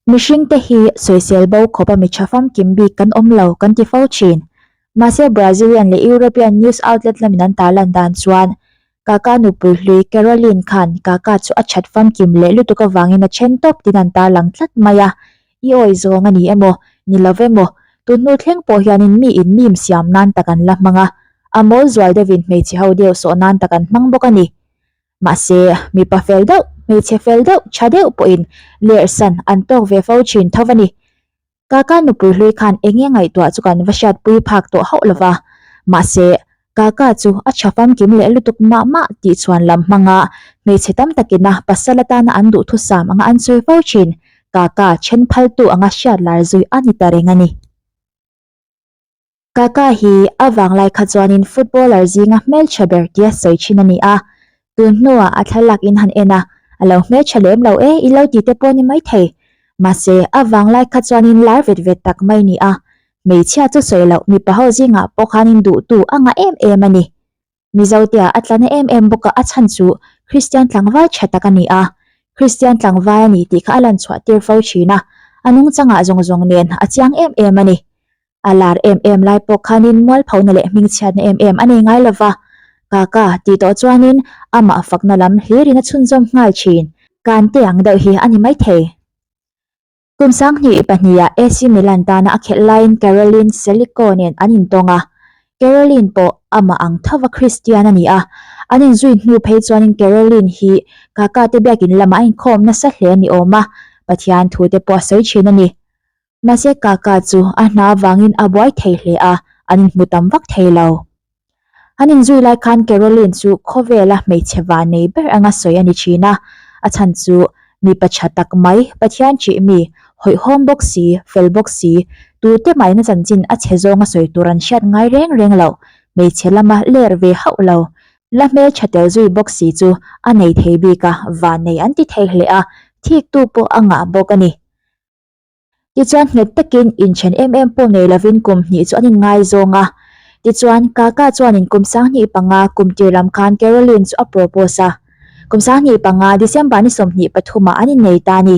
Mihring te hi sawisel bo khawpa mi tha famkim bik kan awm lo kan ti fo thin. Mahse Brazilian leh European news outlet lamin an tah lan dan chuan Kaka nupui hlui Caroline khan Kaka chu a that famkim leh lutuk avangin a then tawp tiin an tarlang tlat mai a, I awi zawng a ni emaw? Ni lo ve maw? Tun hnu thleng pawh hianin mi in mim siam nan tak an la hmang a, a mawl zual deuhin hmeichhe ho deuh sawh nan tak an hmang bawk a ni. Mahse, mipa fel deuh, hmeichhe fel deuh, tha deuh pawhin lersan an tawk ve fo thin tho a ni. Kaka nupui hlui khan eng nge ngaihtuah chu kan va hriat pui phak tawh hauh lova, mahse, Kaka chu a tha famkim leh lutuk mah mah tih chuan lam hmanga hmeichhe tam takina pasal atana an duhthusam anga an sawi fo thin. Kaka then phaltu anga hriat lar zui a ni ta reng a ni. Kaka hi a vanglai kha chuanin footballer zinga hmeltha ber tia sawi thin a ni a, tun hnuah a thlalak in han en a, a lo hmeltha lem lo e, i lo ti te pawh ni maithei. Mahse, a vanglai kha chuanin lar vet vet tak mai ni a, hmeichhia chu sawi loh, mipaho zingah pawh khanin duhtu a ngah em em a ni. Mizo tia a tlan em em bawk a, a chhan chu Kristian tlangval tha tak a ni a, Kristian tlangval a ni tih kha a lan chhuah tir fo thin a, a nung changah zawng zawng nen a chiang em em a ni. A lar em em lai pawh khanin mualphona leh hming chhiatna em em a nei ngai lo va, Kaka, tih tawh chuanin amah fakna lam hlir in a chhunzawm nghal thin, Kan tei ang deuh hi a ni maithei. Kum Sanghnih pahnihah AC Milan tana a khelh laiin Caroline Selico nen an intawng a, Caroline pawh amah ang thova Kristian a ni a. An inzui hnu phei chuanin Caroline hi Kakate biakin lamah inkhawm nasa hle a ni awm a, Pathian thute pawh a sawi thin a ni. Mahse Kaka chu a hna vangin a buai thei hle a, an inhmu tam vak thei lo. An inzui lai khan Carolyn chu khawvela hmeichhe vah nei ber anga sawi a ni thin a, a chhan chu, Mipa tha tak mai, Pathian ṭih mi, hawihhawm bawk si, fel bawk si, tute mahna chanchin a chhe zawnga sawi tur an hriat ngai reng reng lo, hmeichhe lama ler ve hauh lo, la hmelṭha tel zui bawk si chu a nei thei bik a, vah nei an ti thei hle a, thiktu pawh a ngah bawk a ni. Tichuan nghet takin in then em em pawh nei lovin kum hnih chu an in ngai zawng a. Tichuan Kaka chuanin kum sanghnih panga kum tir lam khan Carolyn chu a propose a. Kum sanghnih panga December ni sawmhnih pathumah an in nei ta a ni.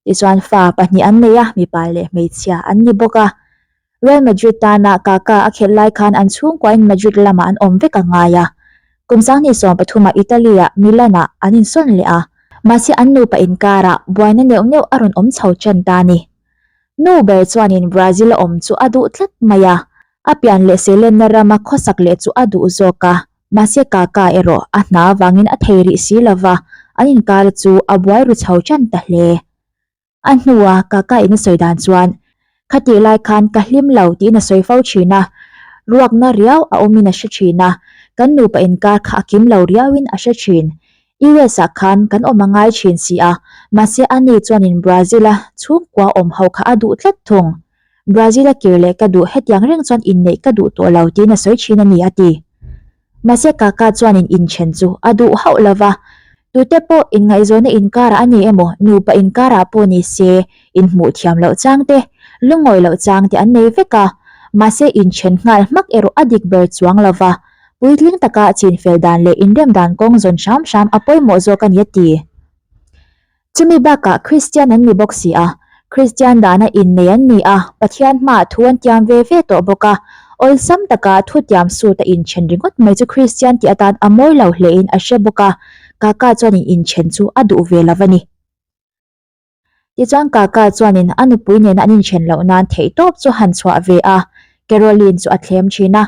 Tichuan fa pahnih an nei a, mipa leh hmeichhia an ni bawk a. Real Madrid tana Kaka a khelh lai khan an chhungkuahin Madrid lama an awm vek a ngai a. Kum sanghnih sawm pathuma Italy-a Milan-a an insawn leh a. Mahse an nupa inkara buaina neuh neuh a rawn awm chho ṭan ta ni. Nu ber chuanin Brazil-a awm chu a duh tlat mai a, a pian leh sehlenna rama khawsak leh chu a duh zawk a. Mahse Kaka erawh a hna avangin a thei rih si lova an inkar chu a buai ru chho ṭan ta hle. A hnua Kaka in a sawi dan chuan, Khatih lai khan ka hlim lo tiin a sawi fo thin a. Ruakna riau a awmin a hre thin a. Kan nupa inkar kha a kim lo riauin a hre thin. US ah khan kan awm a ngai thin si a, mahse a ni chuanin Brazil a chhungkua awm ho kha a duh tlat thung. Brazil a kir leh ka duh hetiang reng chuan inneih ka duh tawh lo tiin a sawi thin a ni, a ti. Mahse Kaka chuanin inthen chu a duh hauh lo va, tute pawh inngaihzawnna inkarah a ni emaw, nupa inkarah pawh ni se, inhmuh thiam loh chang te, lungawi loh chang te an nei vek a. Mahse inthen nghal hmak erawh a dik ber chuang lo va, puitling taka chinfel dan leh inrem dan kawng zawn hram hram a pawimawh zawk a ni a ti. Chumi bakah Kristian an ni bawk si a, Kristian dana innei an ni a, Pathian hmaah thu an tiam ve ve tawh bawk a. Awlsam taka thutiam sut a inthen ringawt mai chu Kristian tih atan a mawi lo hle in a hre bawk a, Kaka chuanin inthen chu a duh ve lo a ni. Tichuan Kaka chuanin a nupui nena an inthen loh nan theih tawp chu han chhuah ve a, Carolyn chu a thlem thin a.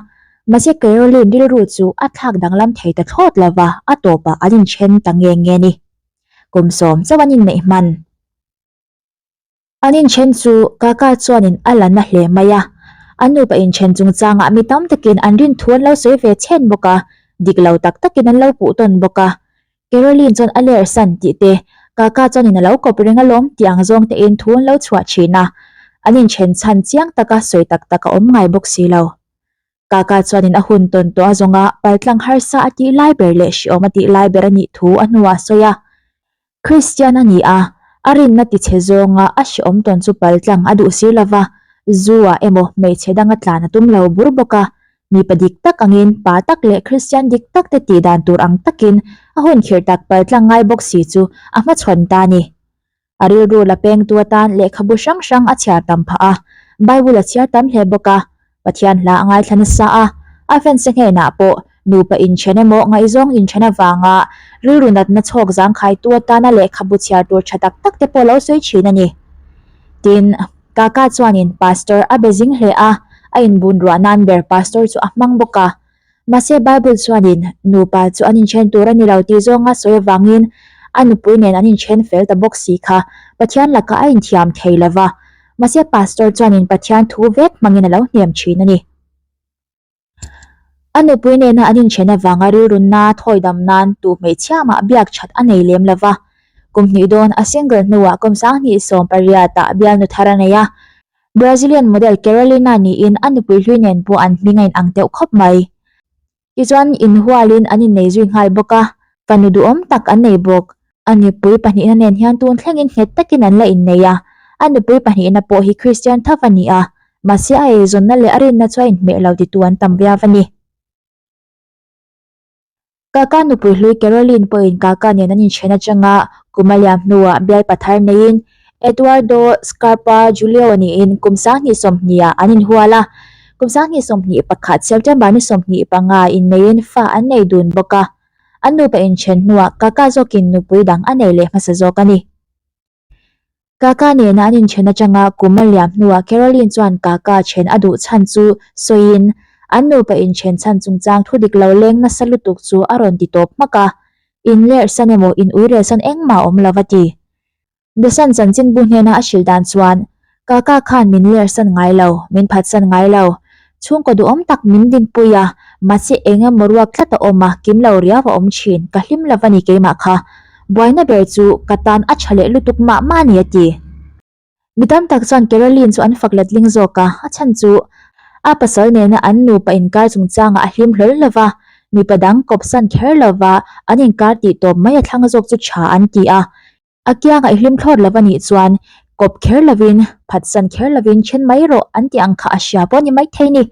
Mahse Carolyn rilru chu a thlak danglam thei ta thlawt lova a tawpah an inthen ta nge nge ni. kum sawm chauh an inneih hman. An inthen chu Kaka chuanin a la na hle mai a, a nupa inthen chungchangah mi tam takin an rinthu an lo sawi ve chhet bawk a, dik lo tak takin an lo puh tawn bawk a. Caroline chuan a lersan tih te, Kaka chuanin a lo kawp reng alawm tih ang zawng tein thu an lo chhuah thin a, an inthen chhan chiang taka sawi tak tak a awm ngai bawk si lo. Kaka chuanin a hun tawn tawh a zawng a, paltlang harsa a tih lai ber leh hriawm a tih lai ber a nih thu a hnuah sawi a, Kristian a ni a, a rinna ti chhe zawnga a hriawm tawn chu paltlang a duh sir lova, Zoo-ah emaw hmeichhe danga tlan a tum lo bur bawk a, mipa dik tak angin pa tak leh Kristian dik tak te tih dan tur ang takin a hun khirh tak paltlang ngai bawk si chu a hmachhawn ta a ni. A rilru la pengtu atan lehkhabu hrang hrang a chhiar tam phah a. Bible a chhiar tam hle bawk a. Pathian hla a ngaithla nasa a. A fanse hnenah pawh nupa inthen emaw ngaihzawng inthen avanga rilru natna chhawk zangkhaitu atana lehkhabu chhiar tur tha tak tak te pawh lo sawi thin a ni. Tin, Kaka chuanin Pastor a be zing hle a. A inbunruah nan ber Pastor chu a hmang bawk a. Mahse, Bible chuanin nupa chu an inthen tur a ni lo tih zawnga sawi avangin a nupui nen an inthen fel ta bawk si kha Pathian lakah a inthiam thei lo va. Mahse, pastor chuanin Pathian thu vek hmangin a lo hnem thin a ni. A nupui nena an inthen avanga rilrunna thawi dam nan tu hmeichhia mah biak that a nei lem lo va. Kum hnih dawn, a single hnuah kawmsang hnih sawm pariatah bialnu thar a nei a. Brazilian model Carolina niin a nupui hlui nen pawh an hming a inang teuh khawp mai. Tichuan inhualin an innei zui nghal bawk a, ka nu duhawm tak an nei bawk. A nupui pahnihna nen hian tun thlengin nghet takin an la innei a. A nupui pahnihna pawh hi Kristian tho va ni a, mahse a eizawnna leh a rinna chu a inhmeh lo ti tu an tam viau va ni. Kaka nupui hlui Caroline pawhin kaka nen an inthian atang a, kum a liam hnuah bial pa thar neiin Eduardo, Scarpa, Julio nih-in kum sanghnih sawmhniha an inhual a. Kum sanghnih sawmhnih pakhat September ni sawmhnih panga inneiin fa an nei dun bawk a. An nupa inthian hnuah kaka zawkin nupui dang a nei leh hmasa zawk a ni. Kaka nena an inṭhen aṭanga kum a liam hnuah Caroline chuan Kaka ṭhen a duh chhan chu sawiin, An nupa inṭhen chhan chungchang thudik lo leng nasa lutuk chu a rawn ti tawp hmak a, inlerhsan emaw inuirelsan engmah a awm lo va ti. Desan chanchinbu hnena a hrilh dan chuan, Kaka khan min lersan ngai lo, min phatsan ngai lo. Chhungkaw duhawm tak min dinpui a, mahse eng emaw ruak tlat a awm a, kim lo riau a awm thin. Ka hlim lo va ni keimah kha. Buaina ber chu ka tan a tha leh lutuk mah mah a ni a ti. Mi tam tak chuan Carolyn chu an fak letling zawk a, a chhan chu a pasal nena an nupa inkar chungchangah a hlim hlawl lo va, mipa dang kawp san kher lova an inkar tih tawp mai a thlang zawk chu tha an ti a. A kiangaih hlim thlawt lo va nih chuan kawp kher lovin, phatsan kher lovin then mai rawh an tih ang kha a hria pawh ni maithei ni.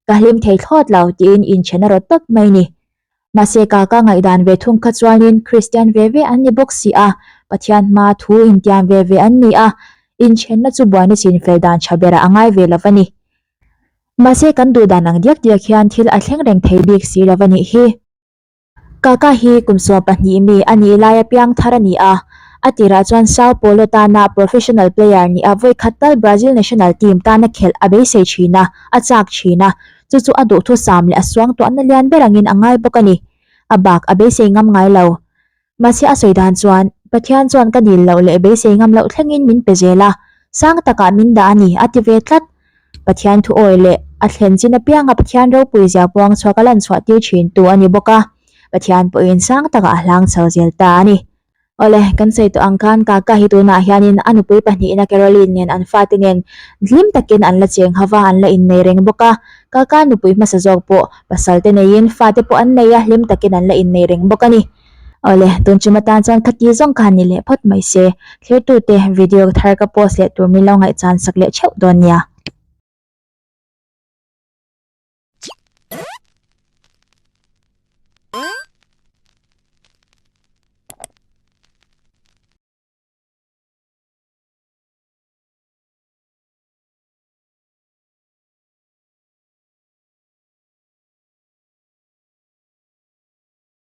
Ka hlim thei thlawt lo tiin inchhen a rawt tawp mai ni. Mahse ka ka ngaihdan ve thung kha chuanin Kristian ve ve an ni bawk si a, Pathian hma thu intiam ve ve an ni a, inchhenna chu buai nichin fel dan tha berah a ngai ve lo va ni. Mahse kan duhdan ang diak diak hian thil a thleng reng thei bik si lo va nih hi. Kaka hi kum sua pahnih mi a nih lai a piang thar a ni a. A tirah chuan Sao Paulo tana professional player ni a vawi khat tal Brazil national team tana khelh a beisei thin a, a chak thin a. Chu chu a duhthusam leh a suangtuahna lian ber angin a ngai bawk a ni. A bak a beisei ngam ngai lo. Mahse a sawi dan chuan, Pathian chuan ka dil loh leh beisei ngam loh thlengin min pe zel a. Sang takah min dah a ni, a ti ve tlat. Pathian thu awi leh a thlen chin apianga Pathian ropui zia puang chhuak a lan chhuah tir thintu a ni bawk a, Pathian pawhin sang takah a hlang chho zel ta a ni. Awle, kan sawi tawh ang khan Kaka hi tunah hianin a nupui pahnihna Caroline nen an fate nen hlim takin an la cheng ho va, an la innei reng bawk a. Kaka nupui hmasa zawk pawh pasalte neiin fate pawh an nei a, hlim takin an la innei reng bawk a ni. Awle, tun chunna tan chuan khati zawng kha ni leh phawt mai se. Thlertute, video thar ka post leh tur min lo ngaihchan sak leh theuh dawn nia.